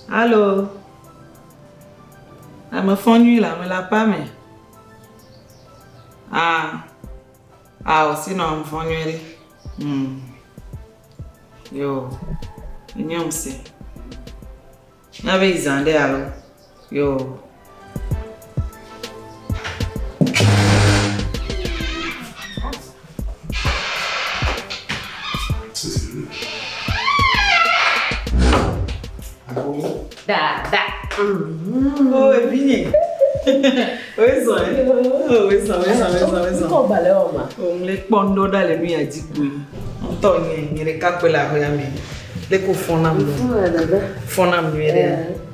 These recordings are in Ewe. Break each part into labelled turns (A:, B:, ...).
A: Alo, ame fɔ nyui le ame le aƒea me. A, a ò si nɔ ame fɔ nyui ɖi. Hmm. Yo, enye ŋusẽ. Na be yi zã ɖe alo. Yoo.
B: kpɔndo
A: ɖa le nu ya dzi kpoe ŋutɔ nye nye ɖeka kpe le aƒea me ɖeko fɔnam fɔnam nyuiɖe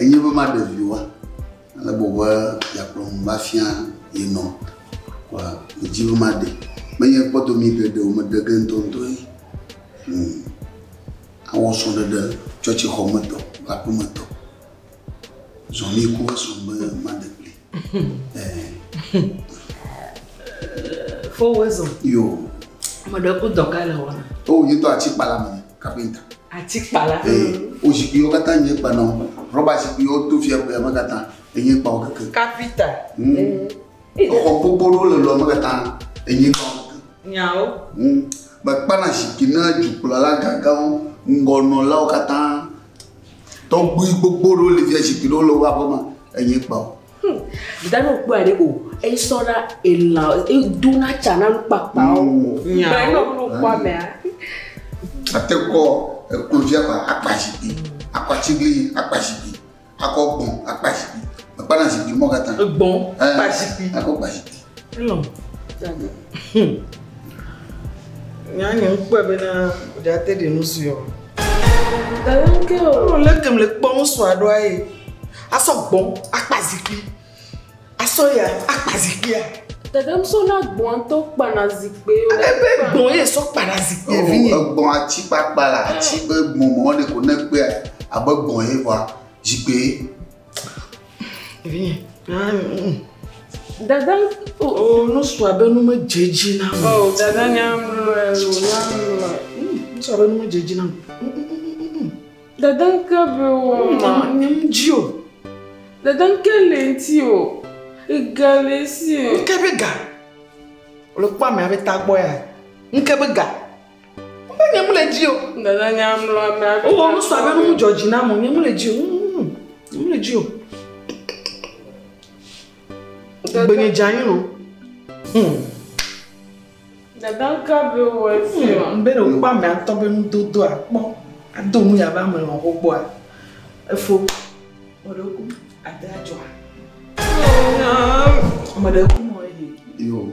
A: Enye be
C: maɖe viwoa, ale gbɔ be yeakplɔm va fia ye nɔ kɔa, medi be maɖe. Menye kpɔdomi geɖe o, meɖe ge ŋutɔŋutɔ ye. Hm, awɔ srɔ̃ɖeɖe tsɔtsixɔmetɔ kple aƒemetɔ. Zɔ mí ku esrɔ̃ be maɖe kplii.
A: Fo wezɔ. Yo.
C: Mo ɖe ku
A: dɔ ka le wɔna. O yi to atikpala
C: me kapinta. Atikpala.
A: Ee o zikpuiwo
C: katã nye kpa nɔ rɔba zikpuiwo to fia kpea me katã enye kpawo keke. Kapita.
A: Hmm.
C: Xɔ gbogbo ɖewo le lɔ me katã enye kpawo keke. Nyawo. Hmm.
A: Mekpana
C: zikpui na dukplɔla gãgãwo ŋgɔnɔlawo katã. Tɔgbui gbogbo ɖewo li via zikpui ɖewo le woƒe aƒe me enye kpa o. Hmm. Dano kpɔe
B: ɖe o. Eyi sɔ na elã, edo na tsa na nukpakpa o. Hmm. Nyawo. Bɛn nɔ klo kpɔ amea. Ate kɔ
C: eklo via kpa akpa zikpui, akpa tsiglinyi akpa zikpui, akɔ gbɔn akpa zikpui. Mekpana zikpui mɔ katã. Gbɔn, eh, kpa
A: zikpui. Akɔ kpa zikpui.
C: Hello.
A: Dada. Nya nye ŋkpɔe bena ɖe ate ɖe nu sue o. Dada
B: ŋke o. Alo le kem le kpɔ ŋusɔ
A: aɖo aye. Asɔ gbɔn akpa zikpui. Asɔ ya akpa zikpuia. Dada ŋusɔ na
B: gbɔn to kpana zikpui. Ale be gbɔn ye sɔ
A: kpana zikpui oh, vinye. Gbɔn atsi kpakpa
C: la atsi be gbɔn mɔ ne ko ne kpea abe gbɔn ye vɔa zikpui.
B: Dada, o oh, oh, nusɔ
A: abe nu me dze dzi na me. O dada nyamlɔe,
B: o nyamlɔe.
A: Nusɔ abe nu me dze dzi na me. Dada
B: nke be wɔ ma. Nye mu dzi o.
A: Dada nke
B: le ŋuti o. Ega le si o. Nke be ga.
A: Wòle kpɔ ame abe tagbɔ ya. Nke be ga. Mbe nye mle dzi o. Dada nya mlɔ
B: ame ato. Wowɔ nu sa be nu dzɔ
A: dzi na mo nye mle dzi o. Nye mle dzi o. Gbenye dza nyi no. Hmm.
B: Dada ka be wɔ si o. Mbe ɖe wokpɔ ame atɔ
A: be nu dodo a kpɔ. Ado nu ya be ame lɔ ho kpɔ a. Efo. Mo ɖe ku ade a dzɔ a. Mo ɖe ku mo e he. Yo.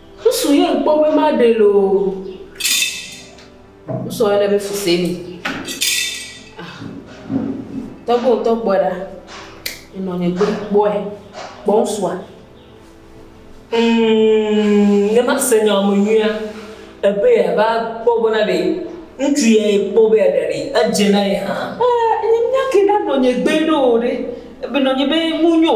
D: Ŋsu
B: yɛ ŋkpɔ be ma ɖe le o. Ŋsu yɛ be fuse mi. Ah. Tɔgbe o tɔgbe ɖa. Enɔ nye gbe kpɔɛ. Kpɔ ŋsua. Mm,
D: ne ma se nya me nyuia, ebe ya va kpɔ be na ɖe ŋutsu yɛ kpɔ be ya ɖa ɖe, edze na ye hã. Eh, nye nya ke ɖa
B: nɔ nye gbe ɖo ɖe. Ebe nɔ nye be mu nyo.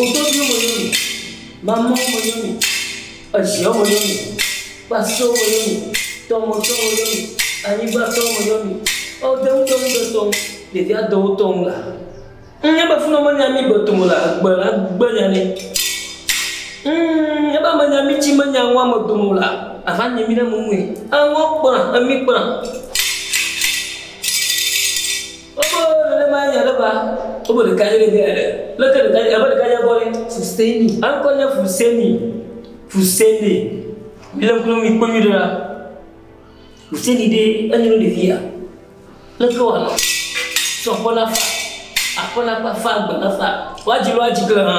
D: Ododoe me yɔ mi, mamɔ̃ me yɔ mi, eʒeɔ me yɔ mi, kpasɔ me yɔ mi, tɔmɔtɔ me yɔ mi, anyigbatɔ me yɔ mi, eo de ŋdɔ ŋɖe tɔŋ, ɖevi adɔwo tɔŋ la, ŋ ebe fini ɔme nya mi gbe tome la, egbe la gbe nya ni. Ŋ ebe ame nya mi ci me nya ŋɔ ame dome la, ava nye mi ɖe me ŋui. Eŋɔ kpla, emi kpla. Obo nenema ye aɖe ba. Obo ɖeka ye ɖevia aɖe. Leke ɖeka ye abe ɖeka ye gbɔ ɖe. Fuseni. Eŋkɔ
B: nye Fuseni.
D: Fuseni. Mi le ŋku ɖom mi kpɔ nyuie ɖe ɖa. Fuseni ɖe enye ɖo ɖevia. Leke wa nɔ. Tsɔ kɔ na fa. Akɔ na kpa fa gbe na fa. Wa dzi wa dzi kle hã.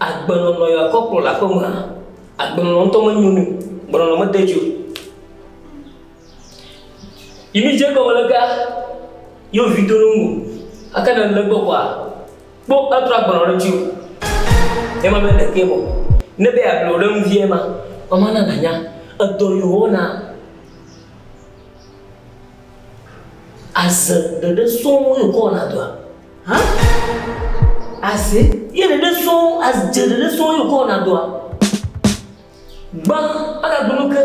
D: Agbenɔnɔ ya kɔ kplɔ le aƒemea, agbenɔnɔ ŋutɔ menyo nɛ o, gbenɔnɔ mede dzi o. Yi mi dze egɔme le gea, yi wo vi do ɖe ŋu o. Gake ne èle egbɔ kɔa, kpɔ etrɔ agbenɔnɔ ɖe ŋuti o. Ye ma be ɖekee vɔ. Ne be yeable wò ɖe ŋu vie ma, mama na nànya edɔ yi wòwɔna. Aze ɖeɖe sɔŋ ye wòkɔ wɔna dɔa? Hã?
B: Aze? Ye ɖeɖe
D: sɔ wo, adze ɖeɖe sɔ wo ye wòkɔ wɔna dɔa? Gbã agagblɔ nu ke.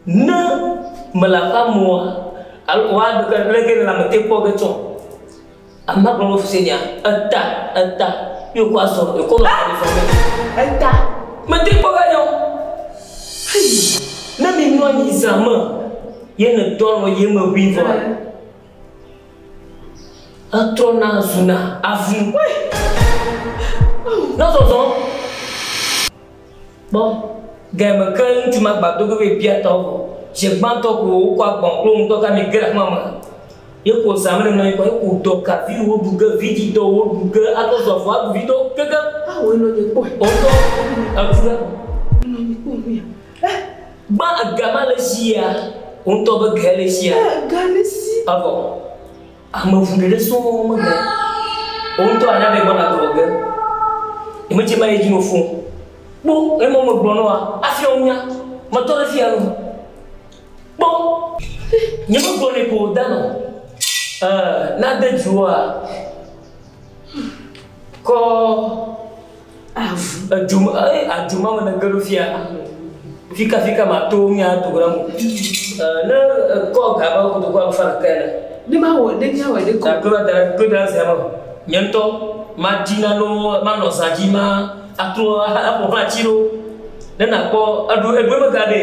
D: Ne mele aƒea me oa, alo wòa ɖu ke leke nèle ame te kpɔ ge tsɔ? Ame ma gblɔ be fu se nya. Eta, eta ye wòkɔ azɔ, wòkɔ nɔ ame zɔ ge. Eta?
B: Mete kpɔ
D: ge nya o. Hii, ne mimlɔ anyi zã me ye nèdɔ alɔ̃ ye me ʋĩ vɔa, Etrɔna zuna avu. Na zɔzɔ. Kpɔ, gaya me ke ŋutsu ma gba do go be bia tɔwo vɔ. Zi gbãtɔ ko wokɔ agbɔn kple ŋdɔ ka mi ge ɖe xɔa me. Ye ko zã mele nɔ anyi kɔ ye ko dɔ ka vi wo ɖu ge, vidzi dɔ wo ɖu ge ato zɔ vɔ aɖu vi dɔ keke. Awu enɔ nye kpɔ.
B: Ɔtɔ avu ɖe. Enɔ nye
D: kpɔ nu ya.
B: Eh. Gba
D: ega ma le sia. Ŋutɔ be ge le sia. Eh, ga le si. Avɔ. Ame ŋu ɖeɖe sɔ me ge. Ŋutɔ ana ɖe gbɔ na gɔ ge. Eme tse ma ye dzi no fo. Kpo, ne mo me gblɔ noa, afi o nya. Me tɔ ɖe fi alo. Kpo. Nye me gblɔ ne ko da no. Eh, na de dzi woa. Kɔ. Avu. Edu ma eye adu ma me ne ge ɖo fia fika fika ma to mi a to ra mo. Ne ko ga ba ko to ko fa ka na. Ne
B: ma wo ne nya wo ne ko. Ko da ko da
D: se ma. Nyento ma di na no ma no sa di ma atro a ko ha ti ro. Ne na ko adu e gbe me ga de.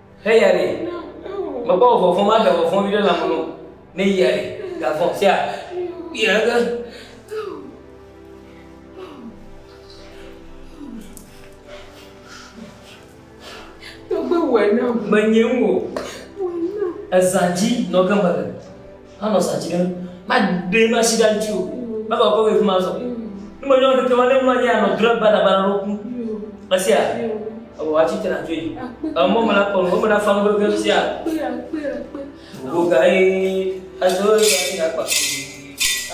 D: Heya nɛ. Mekpɔ vɔvɔ vɔvɔ ma ɖe vɔvɔ ɖe la mɔno. Ne ya ɖe ga vɔ sia. Ya ga.
B: Tɔgbe wɔ na menye wo.
D: Ezadzi nɔ gama. Manɔ sa tsi ɖe ŋu. Maɖee masi ɖe eŋuti o. Mava wòkɔ wòyi fi ma azɔ. Ne menye wo ɖekema ne mlɔ anyi anɔ dre banabana ɖo ku. Mesia? Eŋu atsi tre atso yi. Emɔ me la kɔ nu. Wo me la fa nu vevie mesia? Gbogbo ga ye adzo ye asi na kpa.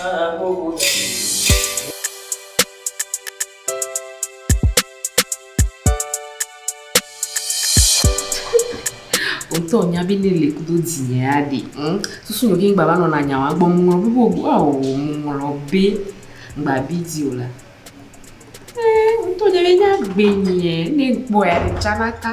D: Aa gbogbo ga ye.
B: ŋutɔ nya bi ne le kudo dzinyɛ aɖe ŋ susu nɔ gin gbava nɔna nya wa gbɔ ŋlɔ bi bo go ao ŋlɔ be ngba bi dzi o la ŋutɔ nya bi nya gbe nyɛ ne kpɔ ya le tsana ka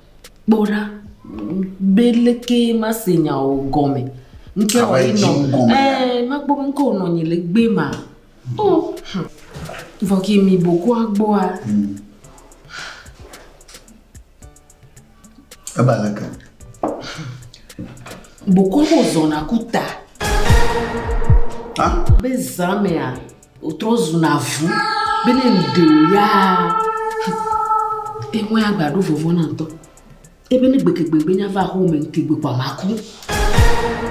B: Kpɔ ɖa, be leke mase nya wò gɔme. Ŋke wɔ yi nɔ. Ɛɛ, makpɔ be ŋke wò nɔ nyi le gbe ma. O, hm. Vɔ ki mi bo kua gbɔa. Hmm.
C: Eba leke.
B: Boko bo zɔna ku ta. Ha?
C: Be zã mea,
B: Wòtrɔ zuna avu be ne ŋɖe wò yaa, eŋue agba ɖo vɔvɔ na ŋutɔ. Ebe ne gbegegbe be nya va aƒe me ŋte gbe kpɔ ama ku.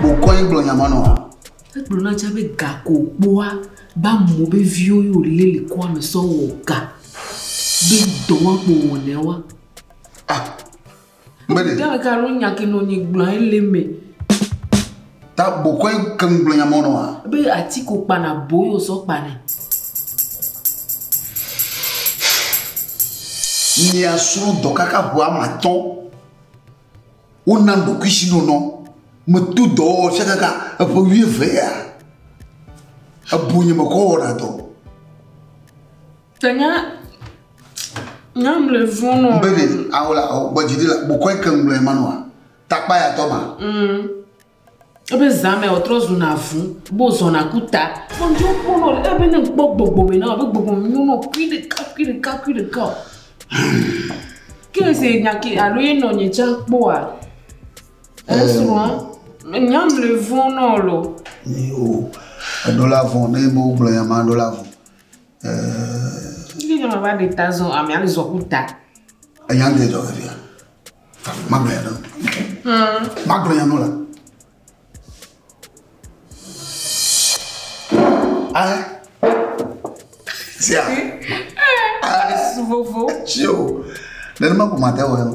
C: Wòkɔ ye gblɔ nya ma nɔa? Egblɔ na tsã be
B: ga ko wòkpɔa be amɔ be viwo ye wòlé le kɔa me sɔ wɔ ga be dɔ wɔa kpo wòwɔnɛ wa. Ah!
C: Mede. Gã ɖeka ɖo nya
B: ke nɔ nyi gblɔ ye le me.
C: Ta bokɔe ke nu gblɔ nya mɔ nɔ wa. Be ati ko kpana
B: bo yo sɔ kpanɛ.
C: Mia sro dɔ kaka ʋu ama tɔ. Wo na do kuisi no nɔ. Me tu dɔ wo fia kaka eƒe wuieve ya. Ebu nye me kɔ wɔna dɔ. Tanya,
B: nyam le vɔn nɔ. Baby, awo la, awo
C: gbɔ jidi la, bukɔe ke ŋlɔ ema nɔa, takpa ya tɔ ma. Mm.
B: Ebe zame o trɔ zu na vu, bo zɔ na kuta. Mo njo kpo nɔ, ebe ne kpo gbogbo me na, ebe gbogbo me nyo nɔ kui de ka, kui de ka, kui de ka. Ke se nya ke alo ye nɔ nye tsa kpoa. Esua, nyam le vɔn nɔ lo. Ni o,
C: edo la vɔn, ne bo gblɔ ya ma do la vɔn. Ŋutsu
B: nyɔnu va ɖe ta zɔ amea le zɔ ku ta. Enya ŋdɛ
C: zɔ ke fia. Ma gblɔ ya nɔ. Ma gblɔ ya nɔ la. Ah. Sia. Ah. Vovo. Tio. Nenema ko ma te wɔ ya nɔ.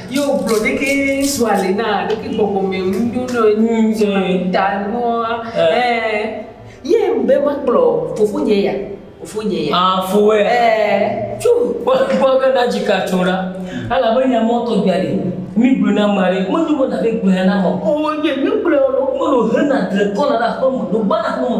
D: Ye wògblɔ ɖeke
B: ŋutsua le na, ɖeke gbɔgbɔme nu nyo nɛ wònyi ŋutsua ƒe ta nuwoa? Ɛɛ. Ye be makplɔ fofonye ya, fofonye ya. Aa
D: foe. Ɛɛ. Tso kpɔ kpɔ be na dzika tso ɖa. Elabe nya mɔ tɔgbia li. Mi gblɔ na ame aɖe. Menyo be na be gblɔ ya na ame o. Ɔɔ nye mi gblɔ ya na wo. Mele o hena dre kɔna ɖe aƒeme, ɖo gbana aƒeme.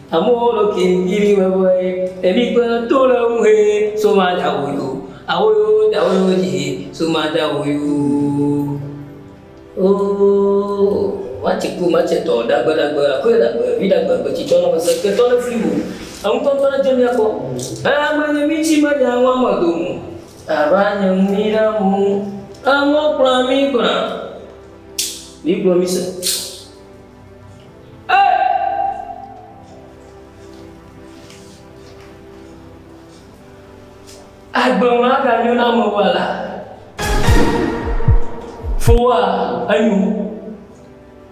D: Amewo lɔ ke yili vevɔe, eli kpe to le ŋu he so ma da wo yo, awo yo da wo yo dzi he so ma da wo yo. Oo, wa tse kpo ma tse tɔ ɖagbe ɖagbe akɔe ɖagbe vi ɖagbe gbe tsi tɔ nɔ se ke tɔ le fli wo, eŋutɔ ŋutɔ ne dze mia kɔ, e ame nye mi tsi me ɖe aŋɔ ame do ŋu a va nye ŋu mi na ŋu aŋɔ kplɔ mi gbla mi gblɔ mi se. Agbe maganyo na ame wa la. Fo wa enyo.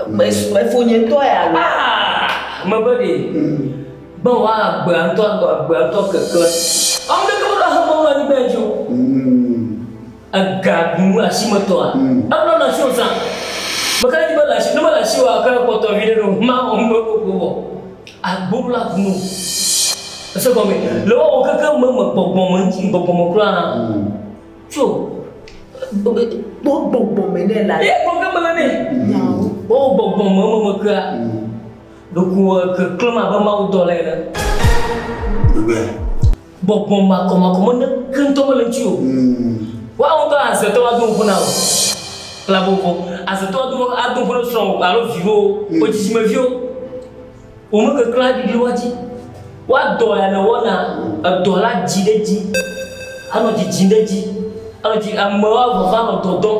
B: Mefo nye tɔ ya la. Ah, me be de.
D: Ba wa agbe antɔ agbe antɔ keke. Amu de ke mo da ha mo wa ni be jo. Mm. Ega ɖunu asimetɔa eŋlɔ na sio zã. Meka ɖe edzi be le asi ne mele asi oa eka kpɔtɔ viɖe ɖe o ma wɔ nu ɖe wokɔ wɔ agbo la ku no. Ese gɔme le wɔ wɔ keke me me gbɔgbɔ me ŋti gbɔgbɔ me kura hã tso kpɔ
B: gbɔgbɔ me ne la ye gbɔ ke mele ne
D: wɔ wɔ
B: gbɔgbɔ me me me
D: kura ɖoko keklem abe mawu dɔ le ene. Ɖogbea. Gbɔgbɔ makɔmakɔ mene ke ŋutɔ mele ŋuti o. Woawo ŋutɔ aze tɔ ado ŋuƒo na wò. Kpla vovo. Aze tɔ ado ado ŋuƒo ne srɔ̃wò alo viwò, wò dzidzimeviwo. Wò mekeklẽ aɖiɖi woa dzi. Woadɔ ya nèwɔna, edɔ la dzi ɖe edzi. Anɔ dzidzim ɖe edzi. Anɔ dzi, amewo avava nɔ dɔ dɔm.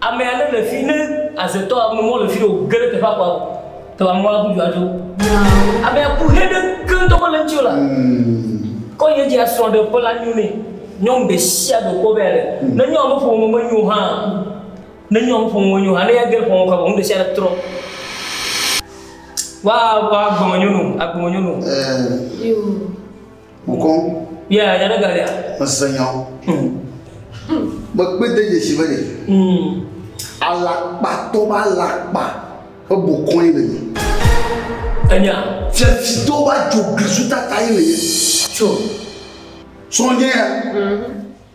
D: Ame aɖe le fi ne azetɔ ame mɔ le fi o ge ɖe teƒe akpa o. Te ame wa kudu adzo. Ame aku he ɖe keŋ tɔgbe le ŋuti o la. Kɔ ye dzi asrɔ̃ ɖe ƒe la nyo ne nyɔnu ɖe sia ɖe kpɔ be ale. Ne nyɔnu me ƒome me nyo hã. Ne nyɔnu me ƒome me nyo hã ne ya ge ƒome kɔ be ŋu ɖe sia ɖe trɔ. Wa wa gbɔme nyɔnu agbɔme nyɔnu. Yoo.
B: Mokɔ.
C: Ya ya ne
D: galia. Mese nya.
C: Mekpe de dzesi be ne. Alakpatɔ ba alakpa ƒe bokɔe le mi. Enya.
D: Fiafitɔ
C: ba dzoglisu tata ye le ye. Tso. Sɔnye ya.